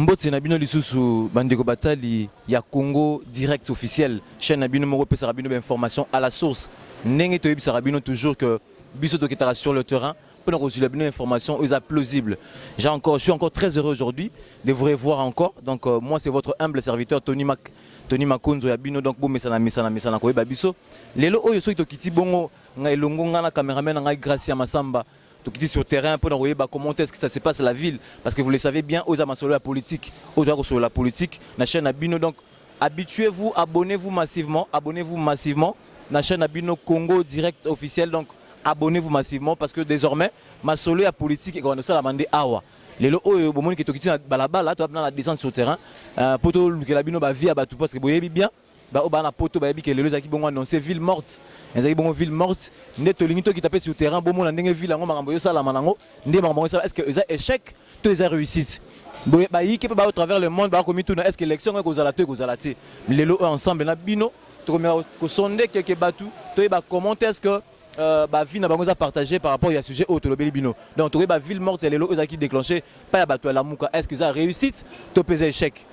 mbote na bino lisusu bandeko batali ya Congo Direct officiel chaîne na bino moko pesaka bino ba information à la source ndenge toyebisaka bino toujours que biso tokitaka sur le terrain Pour nous la bonne information, ils sont plausibles. J'ai encore, je suis encore très heureux aujourd'hui de vous revoir encore. Donc euh, moi c'est votre humble serviteur Tony Mac, Tony Makonzo ya bino. Donc bon mesana mesana mesana ko babiso. Lelo oyo soki tokiti bongo ngai longo ngana cameraman ngai Gracia Masamba. Tokiti sur terrain pour nous ba comment est-ce que ça se passe la ville parce que vous le savez bien aux amasolo la politique, aux amasolo la politique na chaîne à bino donc Habituez vous, abonnez vous massivement, abonnez vous massivement na chaîne na bino Congo Direct officiel donc abonnez vous massivement parce que désormais masolo ya politique et qu'on sala mandé awa lelo oyo bomoni ke tokiti na balabala to na descente sur terrain euh, po tolukela bino bavie ya bato parce que boyebi bien baoyo baa na poto bayebi ke lelo ezalaki bongo annonce ville morte ezalaki bongo ville morte nde tolingi tokita mpe sur terrain bomona ndenge ville yango makambo ezosalama nango nde makambo yango esala est ce que eza échec to eza réussite boye bayike mpe bao travers le monde bakomituna est ce que élection yango ekozala to ekozala te lelo oyo ensemble na bino tokomeka kosonde keke bato toyeba comment est ce que Euh, ba vie na bango eza partager par rapport ya sujet oyo tolobeli bino donc tokoki ba ville morte ya lelo ezalaki déclenché pa ya bato ya lamuka est ce que eza réussite to mpe eza échec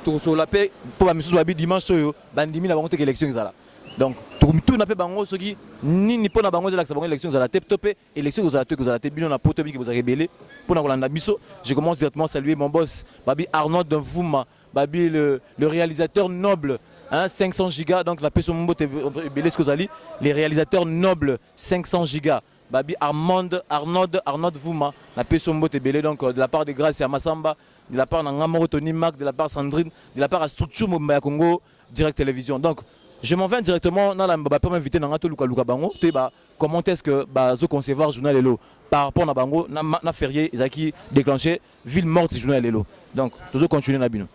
tokosola mpe mpo bamisusu babi dimanche oyo bandimi na bango teke élection ezala donc tokomituna mpe bango soki nini mpo na bango ezalakisa bango élection ezala te to mpe Élection ekozala to ekozala te bino na poto biki bozalaka ebele mpo na kolanda biso. Je commence directement saluer mon boss Babi Arnold Mvuma, Babi le, le réalisateur noble Hein, 500 gigas donc la peso mbote ebele ce kozali les réalisateurs nobles 500 gigas babi Armand Arnaud Arnaud Vuma la peso mbote ebele donc euh, de la part de Grace ya Masamba de la part na nga moko Tony Mac de la part Sandrine de la part à structure mobimba ya Congo Direct Télévision donc je m'en vais directement na la ba pema invité na nga to luka luka bango to ba Comment est-ce que bazo concevoir journal lelo par rapport na bango na, na férié ezalaki déclenché ville morte journal lelo. Donc tozo continuer na bino.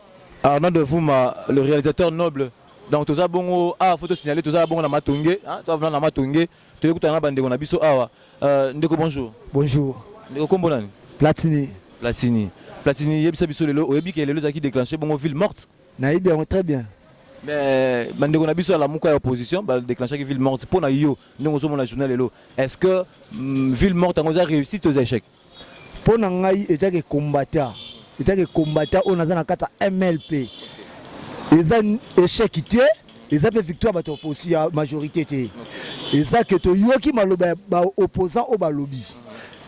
Arnaud de Vuma, le réalisateur noble donc toza bongo awa ah, fo tosignale toza bongo na matonge ah, toavna na matonge toyei kutana na bandeko na biso awa ah, euh, ndeko bonjour bonjour ndeko kombo nani platini platini platini yebisa biso lelo oyebi ke lelo ezalaki déclenché bongo ville morte Nayebi yango très bien. Mais bandeko na biso ya lamuka ya opposition ba déclenchaki ville morte mpo na yo ndenge ozomona journal lelo est-ce que mm, ville morte yango eza réussi to eza échec mpo na ngai ezaki combattant ezaki combattant oyo naza na kati ya mlp eza échec te eza mpe victoire bato ya majorité te eza ke toyoki maloba ya baopposant oyo balobi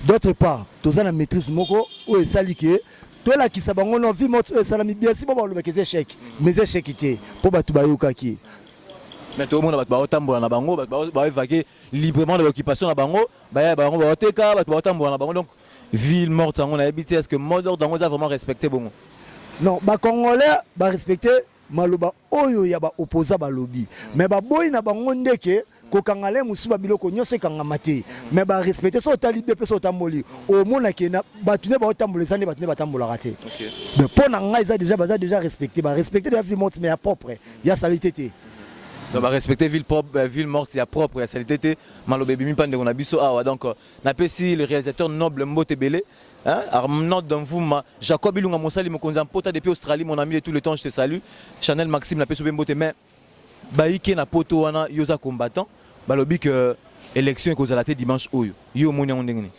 d'autre part toza na maîtrise moko oyo esali ke tolakisa bango no vie moto oyo esalami bien si bango balobaki eza echec mais eza echec te mpo bato bayokaki mais tokomona bato baotambola na bango bato baoevake librement na baoccupation na bango baya bango baoteka bato baotambola na bango donc ville morte yango nayebi te est ce que mot d'ordre yango eza vraiment respecté bongo non bacongolais barespecte maloba oyo ya ba opposants balobi mais baboyi na bango ndeke kokanga le mosusu ba biloko nyonso ekangama te mais ba respecte so otali bien mpe so otamboli omona ke na bato nde baotambola eza nde bato nde batambolaka te mais mpo na ngai eza déjà baza déjà respecte ba respecte deja vie morte mais ya propre ya salite te donc ba respecte ville propre euh, ville morte ya propre ya salite te maloba ebimi mpa ndeko na biso awa donc euh, napesi le réalisateur noble mbote ebele Hein? Arnaud Danvuma, Jacob Ilunga Mosali Mokonzi en Pota depuis Australie, mon ami de tout le temps, je te salue. Chanel Maxime la peso bembote mais baike na poto wana yoza combattant, balobi que élection ekozala te dimanche oyo. Yo omoni yango ndenge nini?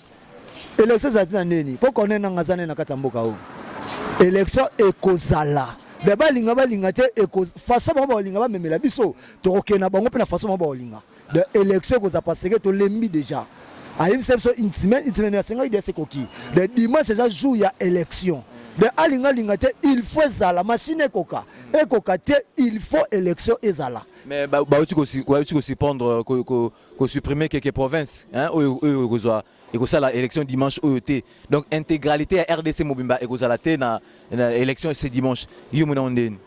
Élection ezali na nini? Po connait nanga zane na kati ya mboka oyo. Élection ekozala. Mais balinga balinga te façon bango balinga bamemela biso tokokende na bango mpe na façon bango balinga de élection ekozala paseke tolembi déjà ayebisa biso intimen intimen asengaki dia sekoki de dimanche eza jour ya élection de alingalinga te il faut ezala machine ekoka ekoka te il faut élection ezala mais bauti kosupendre kosupprime keke province oyo ekozwa ekosala élection dimanche oyo te donc intégralité ya rdc mobimba ekozala te na, na élection ce dimanche yo mona ndeni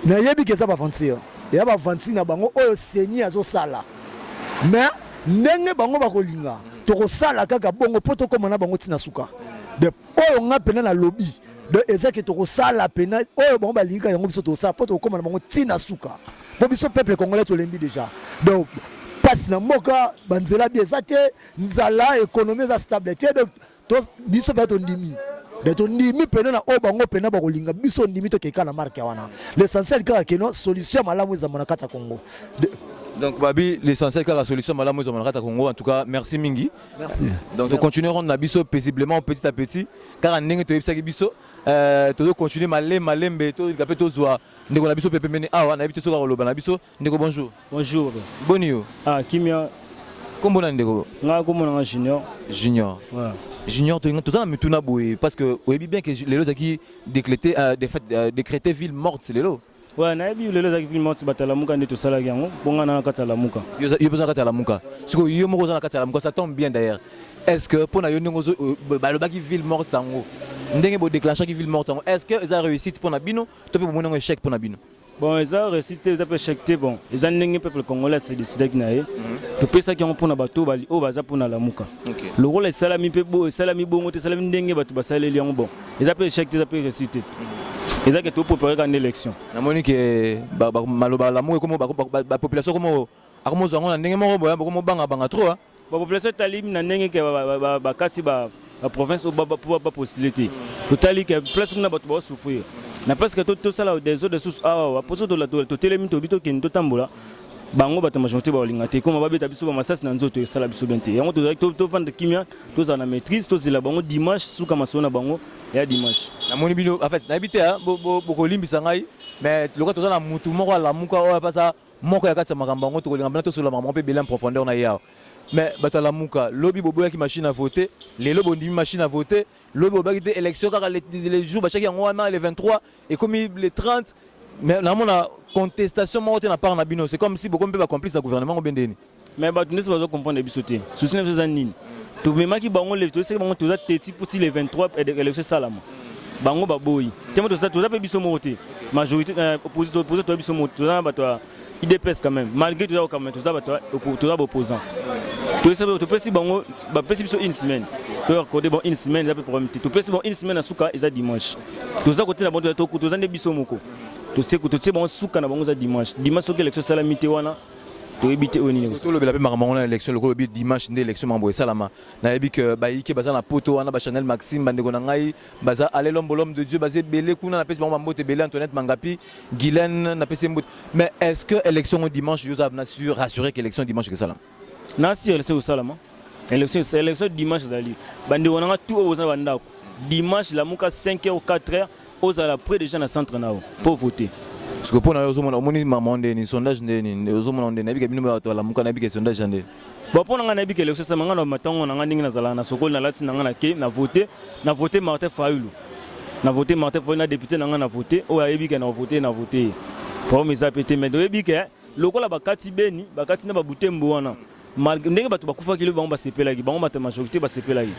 nayebi ke eza baventure ya baventure na bango oyo seni azosala mais ndenge bango bakolinga tokosala kaka bongo mpo tokóma na bango ntina suka de oyo nga mpena nalobi donc eza ke tokosala pena oyo bango balingaka yango biso tokosala mpo tokokoma na bango ntina suka po biso peuple congolais tolembi deja donc pasi na mboka banzela bi eza te nzala ekonomi eza stable te donc biso mpe tondimi de tondimi mpena na oyo bango mpena bakolinga biso ndimi tokeka na marke wana l'essentiel kaka keno solution ya malamu ezama na kati ya congo donc babi l'essentiel kaka solution malamu ezwa malakata congo en tout cas merci mingi merci donc to continuer ronde na biso paisiblement petit à petit kaka ndenge toyebisaki biso euh, tozo continuer malema lembe tolika mpe tozwa ndeko na biso mpe pembeni awa nayebi te soki akoloba na biso ndeko bonjour bonjour boni yo ah kimia kombo na ndeko nga kombo na nga junior junior ouais. junior toza na mituna boye parce que oyebi bien que lelo ezalaki décrété euh, euh, décrété ville morte lelo ouais nayebi lelo ezalaki ville morte bato ya lamuka nde tosalaki yango mpo nga na na kati ya lamuka yo mpe oza na kati ya lamuka sikoyo yo moko oza na kati ya lamuka ça tombe bien d'ailleurs est ce que mpo na yo ndenge euh, balobaki ville morte yango ndenge bodeclenchaki ville morte yango est ce que eza réussite mpo na bino to mpe bomoni yango echec mpo na bino bon eza réussite te eza mpe echec te bon eza ndenge peuple congolais asedecidaki na ye mhm. topesaki yango mpo na bato oyo baza mpo na lamuka lokola esalami mpe esalami bongo te esalami ndenge bato basaleli yango bon eza mpe echec te eza mpe réussite te mhm. ezalaki toprepareka nde élection namoni ke maloba lamuka ekomo bapopulation ekomo akomozwa yango na ndenge moko boya bokomobangabanga trop hein. ba population etali na ndenge ke bakati ba province oyo bapostule te totali ke place kuna bato baosouffrir na place ke tosala des eaux de source awa mposo totelemi tobi tokende totambola bango bato majorité baolinga te koma babeta biso bamasasi na nzoto esala biso bien te yango tozalaki tovanda kimia tozala na maîtrise tozela bango dimanche suka masolo na bango ya dimanche namoni bino en fait nayebi te bokolimbisa ngai mais lokola toza na motu moko alamuka oyo apasa Moko ya kati ya makambo yango tokolinga mpena tosolola makambo yango mpe ebele en profondeur na ye awa. Mais bato ya Lamuka, lobi boboyaki machine à voter, lelo bondimi machine à voter, lobi bolobaki te election kaka le, le jour batiaki yango wana le 23 ekomi le 30 mais namona contestation moko te na part na bino, c'est comme si bokomi mpe ba complice na gouvernement ngo bende nini? mais bato ndesi bazo comprendre biso te souci na biso eza nini tomemaki bango levi toyesaki bango toza teti mposi le 23 élection esalama bango baboyi te mo toza mpe biso moko te majorité euh, opposite opposite toza biso moko toza na bato ya idps quand même malgré toza kokamana toza bato toza baopposant toyesaki topesi bango bapesi biso une semaine toyakode bon une semaine eza mpe problème te topesi bango une semaine na suka eza dimanche toza kotela bango toza nde biso moko totie bango suka na bango eza dimanche dimanche soki élection esalami te wana toyebi te oyo nini ekosala. tolobela mpe makambo yango na élection lokola olobi dimanche nde élection makambo esalama nayebi ke bayike baza na poto wana ba chanel maxime bandeko na ngai baza ale lombo lhomme de dieu baza ebele kuna napesi bango bambote ebele antoinette mangapi guylaine napesi ye mbote mais est ce que élection yango dimanche yo oza na sur rassuré ke élection dimanche ekosalama na sur élection ekosalama élection élection dimanche ezali bandeko na ngai tout oyo boza na bandako dimanche lamuka 5 heures 4 heures Ozala près des gens na centre nao po voter. Siko pona yo ozomona omoni maman nde ni sondage nde ni ozomona nde na bika bino ba lamuka na bika sondage nde. Bon pona nga na bika election sama nga na matango na nga ndenge na zala na sokoli na lati na nga na ke na voter na voter Martin Fayulu. Na voter Martin Fayulu na député na nga na voter oyo ayebi ke na voter na voter. Problème eza pe te mais oyebi ke lokola bakati beni bakati na ba butembo wana Malgré ndenge bato bakufaki lobi bango basepelaki bango mata majorité basepelaki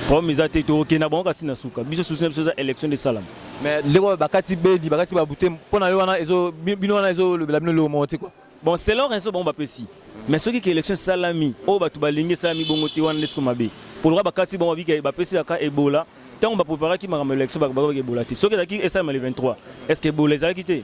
problème eza te tokokenda bango kasi na suka biso susi na biso eza élection de salama mais ndenge oyo bakati bedi bakati babute mpo na yo wana ezo bino wana ezolobela bino eloko moko te kua bon selon raison bango bapesi mais soki ke élection esalami oyo bato balingi esalami bongo te wana nde siko mabe poloka bakati bango babika bapesi kaka ebola ntango bapreparaki makambo ya élection bakobaka ebola te soki ezalaki esalama le 23 est ce que ebola ezalaki te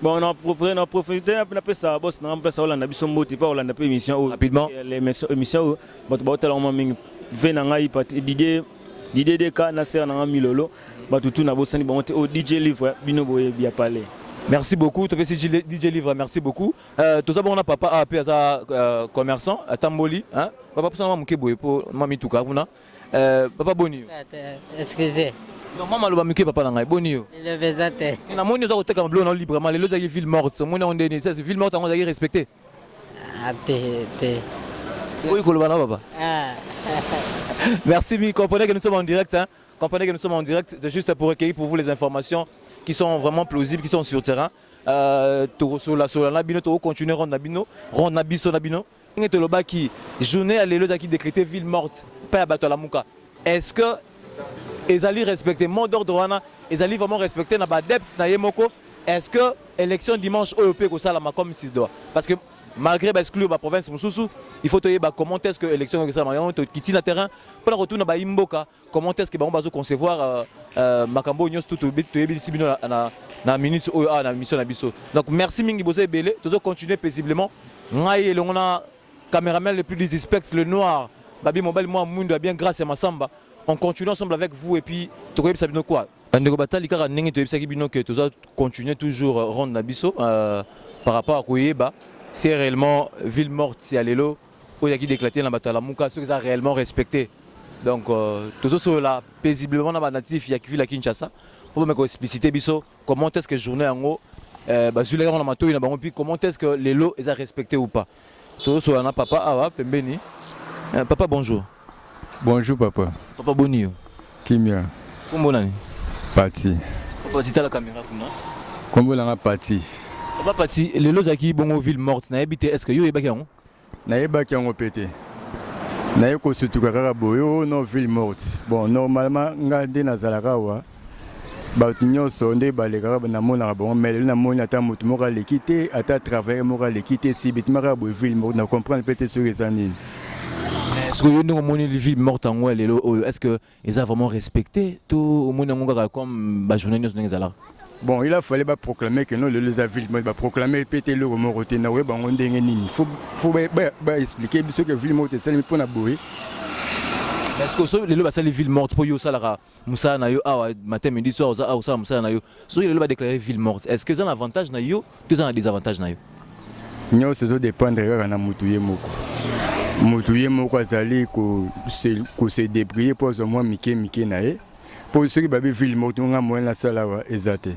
Bon, na propre na profiter na pesa boss na pesa Hollande biso mbote pa Hollande pe émission oyo. Rapidement. L'émission émission bato ba tala mwa mingi. Ve na ngai pati Didier Didier Deka na sera na ngai Milolo. Bato tout na bosani bango te o oh, DJ Livre bino boye bia parler. Merci beaucoup. Tu si DJ Livre, merci beaucoup. Euh, tout ça, bon, on a papa AP, ah, aza euh, commerçant, à Tamboli. Hein? Papa, pour ça, on a mouké boye, pour mami tout cas, Euh, papa boni yo excusez non mama loba mike papa na ngai boni yo elobe eza te namoni oza koteka mabilo na yo librement lelo ezalaki ville morte omoni yango ndeni sasi ville morte yango ozalaki respecte ah, te te oyi koloba na papa ah. merci mi comprenez que nous sommes en direct hein? comprenez que nous sommes en direct c'est juste pour recueillir pour vous les informations qui sont vraiment plausibles qui sont sur terrain euh, tokosola sola na bino tokocontinue ronde na bino ronde na biso na bino ndenge tolobaki journée ya lelo ezalaki decrete ville morte epai ya bato ya lamuka est ce que ezali respecte mot d'ordre wana ezali vraiment respecte na baadepte na ye moko est ce que élection dimanche oyo mpe ekosalama comme s'il doit parce que malgré baexclure baprovince mosusu il faut toyeba comment est ce que élection ekosalama yango tokiti na terrain mpo na kotuna baimboka comment est-ce que bango bazo concevoir euh, euh, makambo oyo nyonso tutu toyebisi bino na, na, na minute oyo awa ah, na mission na biso donc merci mingi boza ebele tozo continuer paisiblement ngai elongo na cameraman le plus disrespect le noir babi mobali mwa mwindo ya bien grâce ya masamba on continue ensemble avec vous et puis tokoyebisa bino quoi bandeko batali kaka ndenge toyebisaki bino ke toza continuer toujours euh, ronde na biso euh, par rapport à koyeba c'est réellement ville morte ya lelo oyo yaki declate na bato ya Lamuka soki eza réellement respecté donc euh, tozosolola paisiblement na banatif ya ville ya Kinshasa mpo bameka koexplicite biso comment est-ce que journée yango euh, bazwilaki yango na matoi na bango mpi comment est-ce que lelo eza respecté ou pas tozosolola na papa awa pembeni euh, papa bonjour bonjour papa papa boni yo kimia kombo nani pati papa titala kamera kuna kombo nanga pati papa pati lelo ozalaki bongo ville morte nayebi te est ce que yo oyebaki yango Nayebaki yango mpe te. Naye kosutuka kaka boye o oh, no ville morte. Bon, normalement nga nde nazalaka awa bato nyonso nde balekaka namonaka bango mai lelo namoni ata moto moko aleki te ata travailleur moko aleki te si bitimaka boye ville morte na comprendre mpe te soki eza nini soki yo ndenge omoni ville morte yango ya lelo oyo est ce que eza vraiment respecté to omoni yango kaka comme ba journée nyonso ndenge ezalaka bon il a fallu ba proclamer que non lelo eza ville moko ba proclamer pe te eloko moko te na oye bango ndenge nini faut faut ba, ba, ba expliquer biso que ville moko esalemi mpo na boye parce que so lelo basali ville morte mpo yo osalaka mosala na yo awa matin midi soir oza awa osala mosala na yo soki lelo ba déclarer ville morte est-ce que eza na avantage na yo to eza na désavantage na yo nyonso ezodépendre kaka na motu ye moko motu ye moko azali kose débrouiller mpo azwa mwa mike mike na ye mpo soki babi ville moko tonga moyen nasala awa eza te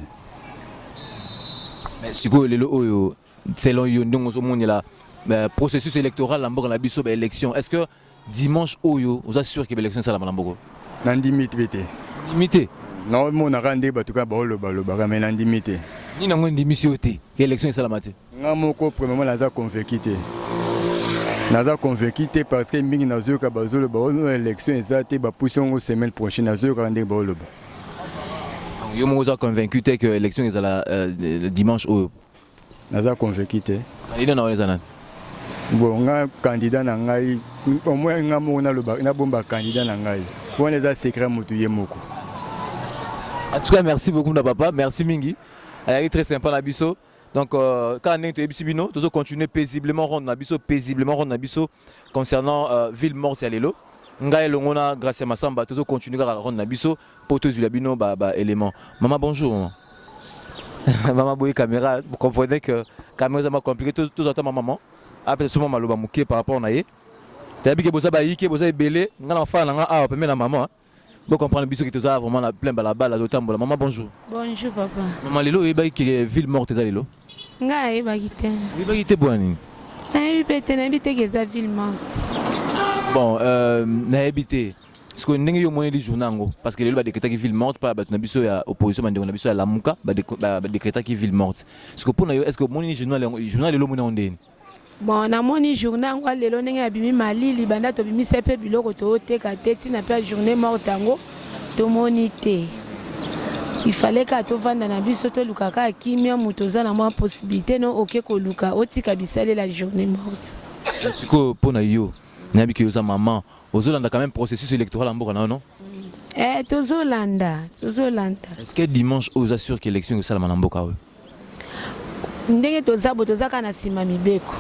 sikoyo lelo oyo selon yo ndenge ozomonela euh, processus électoral na mboka na biso baélection est ce que Dimanche oyo oza sûr que l'élection sala malamboko. Na ndimi te. Ndimi te. Na mona ka nde batuka ba oloba loba ka mais na ndimi te. Ni na ngwe ndimi si ote que l'élection sala mate. Nga moko premièrement naza convaincu te. Naza convaincu te parce que mingi na zoyo ka ba zolo ba oloba l'élection eza te ba pousse ngo semaine prochaine na zoyo ka nde ba oloba. Yo moko oza convaincu te que l'élection ezala euh, dimanche oyo. Naza convaincu te. Candidat na wana eza nani? Bon nga candidat na ngai au moins nga moko naloba nabomba candidat na ngai wana eza secret motu ye moko. En tout cas merci beaucoup na papa, merci mingi. Ayaki très sympa na biso. Donc euh, kaka ndenge toyebisi bino tozo continuer paisiblement ronde na biso paisiblement ronde na biso concernant euh, ville morte ya lelo. Ngai elongo na Gracia Masamba tozo continuer kaka ronde na biso. po tozwila bino ba, ba élément mama bonjour mama mama boye caméra vous comprenez que caméra eza ma compliqué tozwa ta mama mama apesa suma maloba moke par rapport na ye tayebi ke boza bayike boza ebele nga na fana na nga awa pembe na mama bo comprendre biso ke toza vraiment na plein balabala totambola mama bonjour bonjour papa mama lelo oyebaki ke ville morte eza lelo nga ayebaki te oyebaki te bwa nini nayebi mpe te nayebi te ke eza ville morte bon euh, nayebi te sikoyo ndenge yo omoneli journée yango parce que lelo badekretaki ville morte mpa bato na biso ya opposition bandeko na biso ya lamuka badekretaki ville morte sikoyo mpo na yo est ce que omoneli journal yango journal lelo omoni yango ndeni bon namoni journée yango lelo ndenge abimi malili banda tobimisa mpe biloko tooteka te ntina mpe journée morte yango tomoni te ifale kaka tovanda na biso toluka kaka kimia moto oza na mwa possibilité no oke koluka otika bisalela journée morte sikoyo mpo na yo nayebi ke oza mama Ozolanda quand même processus électoral ya mboka na yo non? Eh, tozolanda, tozolanda. Est-ce que dimanche oyo oza sûr que élection ekosalama na mboka oyo? Ndenge toza bo toza kaka na nsima mibeko.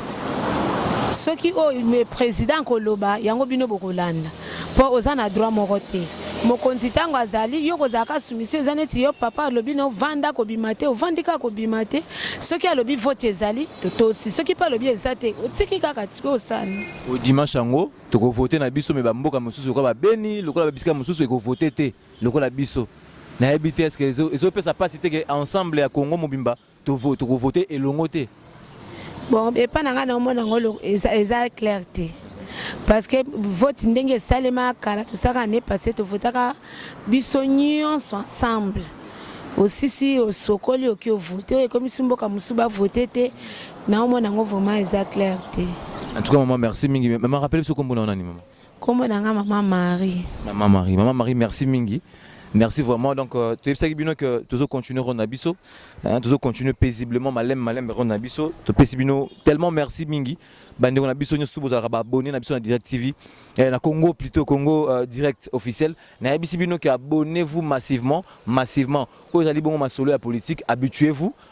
Soki oyo le président akoloba yango bino bokolanda mpo oza na droit moko te. Mokonzi ntango azali yo kozala ka soumission eza neti yo papa alobi na ovanda kobima te ovandi kaka kobima te soki alobi vote ezali totosi soki mpe alobi eza te otiki kaka sikoyo osani Au dimanche yango toko vote na biso me bamboka mosusu lokola babeni lokola babisika mosusu ekovote te lokola biso nayebi te eske ezopesa mpasi te ke ensemble ya congo mobimba tokovote elongo te bon epai na ngai naomona yango eza clair te parce que vote ndenge esalema kala tosaka ne passe tovotaka biso nyonso ensemble osisi osokoli oki ovote oyo ekomisi mboka mosusu bavote te Na omona yango vraiment eza clair te. En tout cas maman merci mingi. Maman rappelle biso kombo na nani maman? Kombo na nga maman Marie. Maman Marie, maman Marie merci mingi. Merci vraiment. Donc, euh, tu sais bien que tu as continué Ron Abisso. Hein, tu as continué paisiblement, malem, malem, Ron Abisso. Tu sais bien tellement merci Mingi. Bande Ron Abisso, nous sommes abonnés à la Direct TV. Et eh, na Congo, plutôt Congo euh, Direct officiel. Na Abisso bien que abonnez-vous massivement, massivement. Quand vous allez bon ma solo la politique, habituez-vous,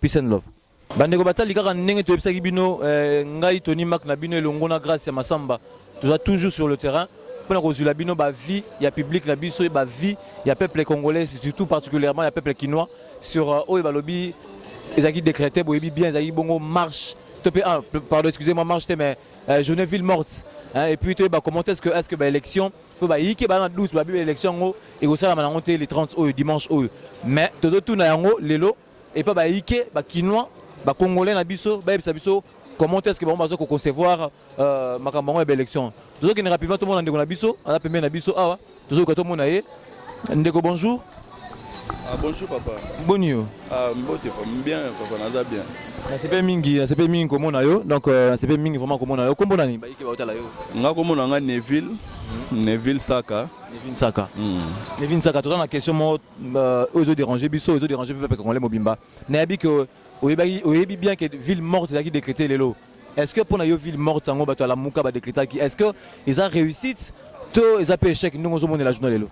peace and love bandeko batali kaka ndenge toyebisaki bino eh, ngai toni mak na bino elongo na grace ya masamba toza toujours sur le terrain mpona kozwila bino bavie ya publike na biso bavie ya peuple congolais surtout particulièrement ya peuple kinois sur euh, oyo balobi ezalaki décrété boyebi bien ezalaki bongo marche to mpe ah, pardon excusez moi marche te mais euh, journée ville morte hein, et puis toyeba comment est ce que est ce que baélection mpo bayike baa na doute babi ba election yango ekosalama nango te le 30 oyo dimanche oyo mais tozotuna yango lelo epa bayike bakinois bacongolais na biso bayebisa biso comment est ce que bango baza koconcevoir euh, makambo yango ya baélection tozokende rapidement tomona ndeko na biso aza pembeni na biso awa tozoyoka tomona ye ndeko bonjour Ah, bonjour papa. Boni yo? Ah, mbote papa, bien papa, naza bien. Nasepe mingi, nasepe mingi komona yo. Donc euh, nasepe mingi vraiment komona yo. Kombo nani? Bayike baotala yo. Nga komona nga Neville. Mm. Neville Saka. Neville Saka. Mm. Neville Saka, toza na question moko euh, oyo ezo déranger biso, ezo déranger peuple congolais mobimba. Nayebi que oyebi bien que ville morte ezalaki décrétée lelo. Est-ce que pona yo ville morte yango bato ya Lamuka ba decretaki est-ce que eza réussite to eza pe échec ndenge ozomonela journal lelo?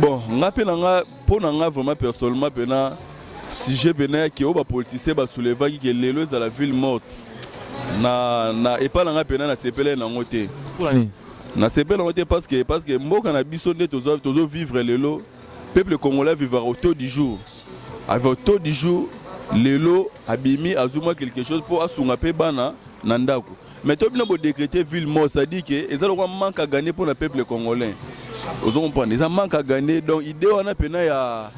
Bon, nga pe na nga pona nga vraiment personnellement pena sujet pena ya ke oyo ba politiciens ba soulevaki ke lelo ezala ville morte na na epa na nga pena na sepeleli nango te. Pona nini? Na sepeleli nango te parce que parce que mboka na biso nde tozo tozo vivre lelo peuple congolais vivaka au taux du jour. Avec taux du jour, lelo abimi azwi mwa quelque chose mpo asunga mpe bana na ndako mais to bino bodecrete ville mort c'est-à-dire ke eza lokwa manque à gagner mpo na peuple congolais ozo comprendre eza manque à gagner donc idée wana mpena ya,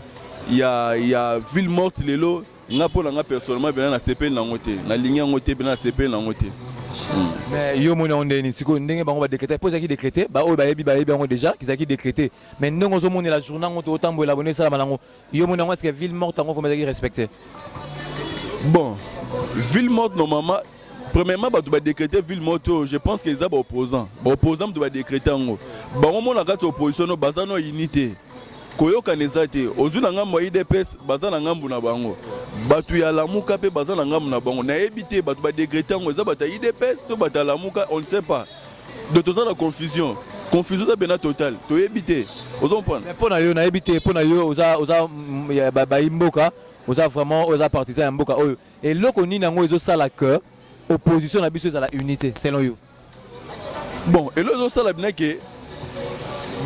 ya, ya ville morte lelo nga mpo na nga personnellement mpena nasepeli nango te nalingi yango te mpena nasepeli nango te hmm. mais yo omoni yango ndeni sikoyo ndenge bango badecrete mpo ezalaki decrete baoyo bayebi bayebi yango déjà ezalaki decrete mais ndenge ozomonela journal yango to otambwela bone esalama nango Yo mona ngo eske ville morte ngo vraiment ezaki respecter? Bon, ville morte normalement premièrement bato badécréte ville morte oyo je pense que eza baopposant baopposant moto badécréte yango bango mona kati ya opposition no baza no ini te koyokana eza te ozwi na ngambo ya idps baza na ngambo na bango bato ya lamuka mpe baza na ngambo na bango nayebi te bato badécréte yango eza bato ya idps to bato ya lamuka on ne sait pas donc toza na confusion confusion eza bena total toyebi te ozo comprendre mpo na yo nayebi te mpo na yo oza oza mm, ya ba- bayi mboka oza vraiment oyo oza partisan ya mboka oyo eloko nini yango ezosala que opposition na biso ezala unité selon yo bon elo ezosala bina ke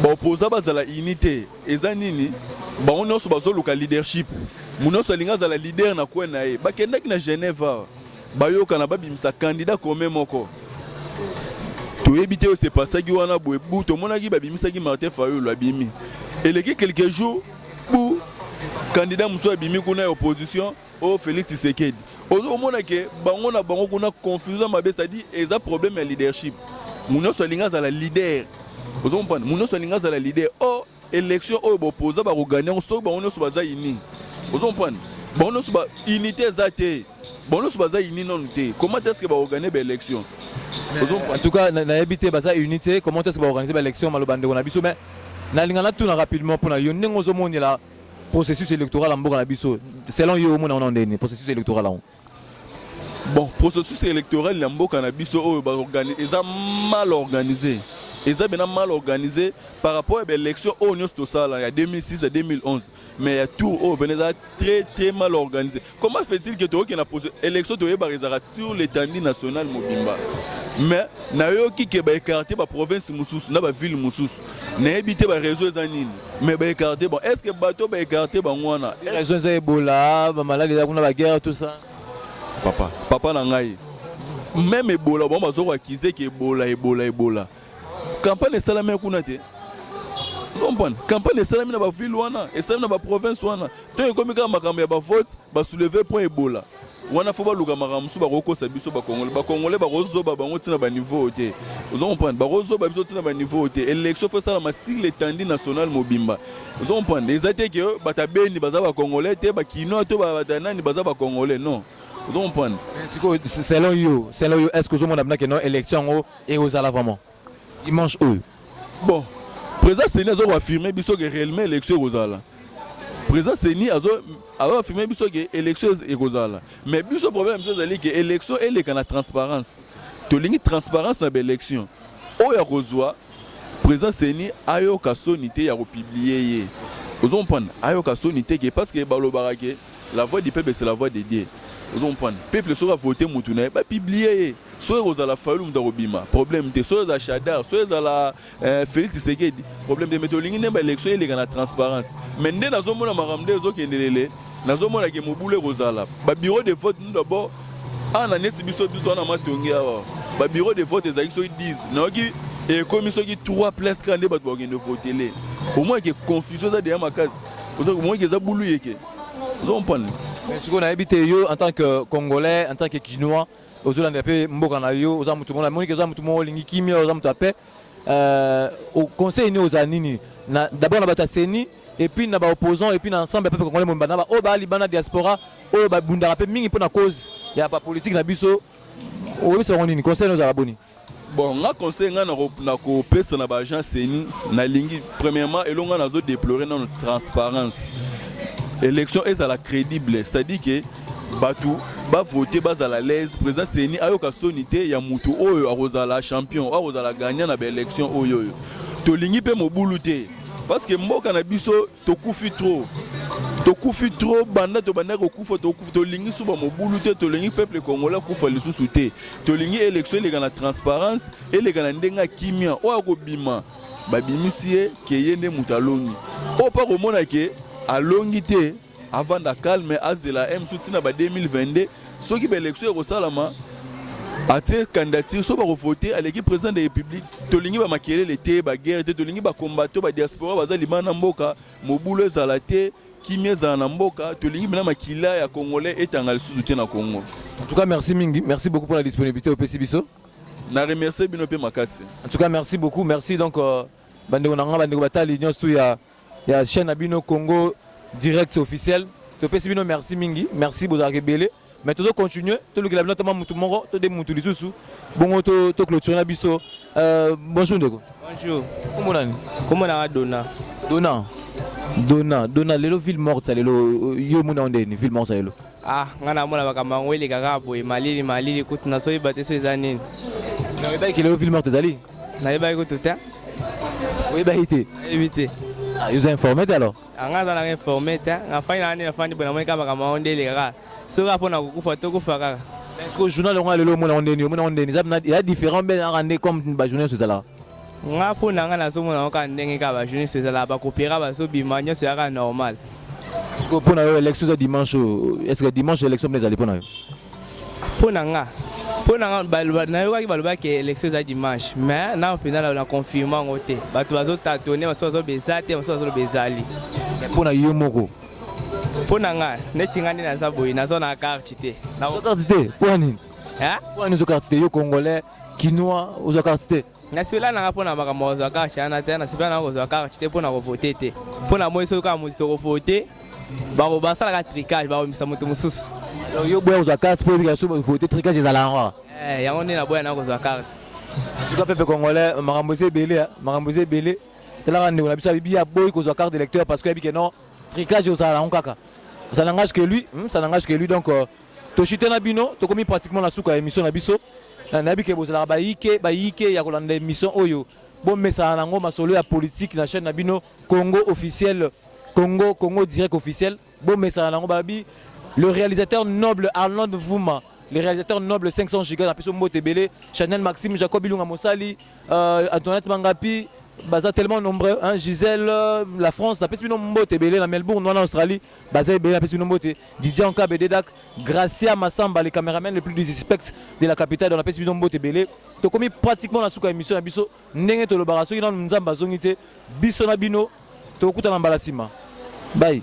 baopoza bazala ini te eza nini bango nyonso bazoluka leadership moto nyonso alingi azala leader na coin na ye bakendaki na genève awa Bayokana babimisa candidat commun moko. Toyebi te oyo se pasaki wana boye bu tomonaki babimisaki Martin Fayulu abimi. Eleki quelques jours bu candidat mosusu abimi kuna ya opposition o Felix Tshisekedi. Ozomona ke bango na bango kuna confusion mabe c'est-à-dire eza problème ya leadership. Munoso alinga zala leader. Ozomona munoso alinga zala leader. Or Election oyo bopoza bako gagner yango soki bango nyonso baza unis. Ozo comprendre? Bango nyonso ba unité eza te. Bango nyonso baza unis nanu te. Comment est-ce que bako gagner ba election? Ozo comprendre? En tout cas, nayebi te baza unis te. Comment est-ce que ba organiser ba election maloba ndeko na biso mais nalinga natuna rapidement pona yo ndenge ozo monela processus electoral ya mboka na biso selon yo omona wana ndeni processus electoral yango Bon, processus électoral ya mboka na biso oyo ba organiser eza mal organisé. Eza bena mal organisé par rapport à l'élection oyo nyonso tosala ya 2006 à 2011. Mais ya tour oyo bena eza très très mal organisé. Comment fait-il que toyoki na élection toyebaka ezalaka sur l'étendue nationale mobimba? mais nayoki ke baekarte baprovince mosusu na bavile mosusu nayebi te bareseau eza nini Mais ba ecarte bon est-ce que bato ba ecarte bango wana raison eza ebola ba malade eza kuna ba guerre tout ça papa papa na ngai même ebola bango bazo accuser que ebola ebola ebola campagne esalami kuna te comprendre campagne esalami na bavile wana esalami na baprovince wana ntango ekomi kaka makambo ya bavote basouleve mpo ebola wana faut baluka makambo mosusu bakokosa biso bakongole bakongole bakozoba bango ntina baniveau oyo te ozo comprendre bakozoba biso ntina baniveau oyo te élection faut esalama sur l'étendue nationale mobimba ozo comprendre eza te ke bata beni baza bakongole te bakinois to bata nani baza bakongole non ozo comprendre sikoyo selon yo selon yo est ce que ozomona bina ke non élection yango ekozala vraiment dimanche oyo bon président seni azo affirmer biso ke réellement élection ekozala président seni azo azo affirmer biso ke élection ekozala mais biso problème biso ezali ke élection eleka na transparence tolingi transparence na baélection oyo akozwa président seni ayoka soni te ya kopublie ye ozo comprendre ayoka soni te ke parce que balobaka ke la voix du peuple c'est la voix de dieu ozo comprendre peuple soki avote mutu na ye bapublie ye Soki ekozala Fayulu moto akobima problème te, soki ezala Shadar, soki ezala eh, Felix Tshisekedi problème te, mais tolingi nde ba élection eleka na transparence. Mais nde nazomona makambo nde ezokende lele, nazomona ke mobulu ekozala ba bureau de vote nous d'abord awa na nesi biso bitu wana matongi awa ba bureau de vote ezalaki soki 10 nayoki ekomi soki 3 plus kaka nde bato bakokende votele omoi ke confusion eza deya makasi omoi ke eza bulu yeke ozo comprendre sikoyo nayebi te yo en tant que congolais en tant que kinois ozolandela mpe mboka na yo oza motu moko namoni ke oza motu moko olingi kimia oza motu ya paix euh, conseil nini ozala nini d'abord na bato ya seni epuis na baopposant epuis na ensemble ya peuple congolais momba na baoyo baa libana diaspora oyo babundaka mpe mingi mpo na cause ya bapolitike na biso oyebisa bango nini conseil nini ozala boni Bon nga conseil nga na ko pesa na ba agents CENI na lingi premièrement elonga na zo déplorer na transparence. Élection ezala crédible, c'est-à-dire que batu ba voter bazala à l'aise, président CENI ayoka soni te ya mutu oyo akozala champion, akozala gagnant na ba élection oyo oyo. Tolingi pe mobulu te parce que mboka na biso tokufi trop tokufi trop banda tobandaki kokufa tokufi tolingi suba mobulu te tolingi peuple congolais akufa lisusu te tolingi élection eleka na transparence eleka na ndenge ya kimia oyo akobima babimisi ye ke ye nde moto alongi oyo mpe akomona ke alongi te avanda calme azela ye mosusu ntina ba 2022 soki ba election ekosalama atie candidature so bakovote aleki président de république tolingi bamakelele te baguerre te tolingi bacombato badiaspora baza libana na mboka mobulu ezala te kimia ezala na mboka tolingi mpena makila ya congolais etanga lisusu te na congo en tout cas merci mingi merci beaucoup mpona disponibilité opesi biso na remercie bino mpe makasi en tout cas merci beaucoup merci donc euh, bandeko na ngai bandeko batali nyonso tu ya ya chaine na bino Congo direct officiel topesi bino merci mingi merci bozalaka ebele mais tozo continuer tolukela bino atama mutu moko to de mutu lisusu bongo to to clôturer na biso euh, bonjour ndeko bonjour kombo nani kombo nanga dona dona dona dona lelo ville morte lelo yo mona onde ni ville morte lelo Ah, nga namona makambo yango eleka kaka boye malili malili kutu nazoyeba te so eza nini. Nayebaki kilo yo film art ezali? Nayebaki kutu te. Oyebaki te? Nayebi te. Ah, yo oza informe te alors? Ah, nga aza nanga informe te, nga fani na nani nafandi boye namoni kaka makambo yango nde eleka kaka. Soki kaka mpo na kokufa tokufa kaka. Est-ce que journal yango ya lelo omona yango ndeni? Omona yango ndeni? Eza ya différent mpe ezalaka nde comme ba journaux nyonso ezalaka? nga mpo na nga nazomona yango kaka ndenge kaka bajournaliste ezalaka bakopera bazobima nyonso yaka normal siko mpo na yo élection eza dimanche oyo est ce que dimanche élection mpe ezali mpo na yo mpo na nga mpo na nga nayokaki balobaki élection eza dimanche mais nao mpenza na confirme yango te bato bazotatone basusu bazoloba eza te basusu bazoloba ezali mpo na yo moko mpo na nga neti nga nde naza boye naza na karte te karte te mpo ya nini mpo ya nini ozo karte te yo congolais kinois ozwa carte te nasepela nanga mpo na makambo kozwa carte yana te nasepela nanga kozwa carte te mpo na kovote te mpo na moi soki kaka moto tokovote basalaka tricage bakomisa moto mosusu yo boya kozwa carte mpo oyebika soki vote tricage ezala yango eh, yango nde naboya nanga kozwa carte tuka pepe congolais makambo eza ebele ah. makambo eza ebele talaka ndeko na biso abibi aboyi kozwa carte d'électeur parce que ayebike non tricage ozala yango kaka ça n'engage que lui hmm, ça n'engage que lui donc euh, To chute na bino, tokomi pratiquement na suka ya emission na biso. Na nabi ke bozalaka ba yike, ba yike ya kolanda emission oyo. Bon mesana nango masolo ya politique na chaîne na bino Congo officiel, Congo Congo direct officiel. Bon mesana nango babi le réalisateur noble Arnold Vuma le réalisateur noble 500 giga na biso mbote ebele chanel maxime jacob ilunga mosali euh, antoinette mangapi baza tellement nombreux hein, gisèle euh, la france napesi bino mbote ebele na melbourne wana australie Baza ebele apesi bino mbote Didier Ankabe Dedak Gracia Massamba le cameraman le plus disrespect de la capitale donc apesi bino mbote ebele tokomi pratiquement na suka émission na biso ndenge tolobaka soki nanu nzambe azongi te biso na bino tokokutana mbala nsima bye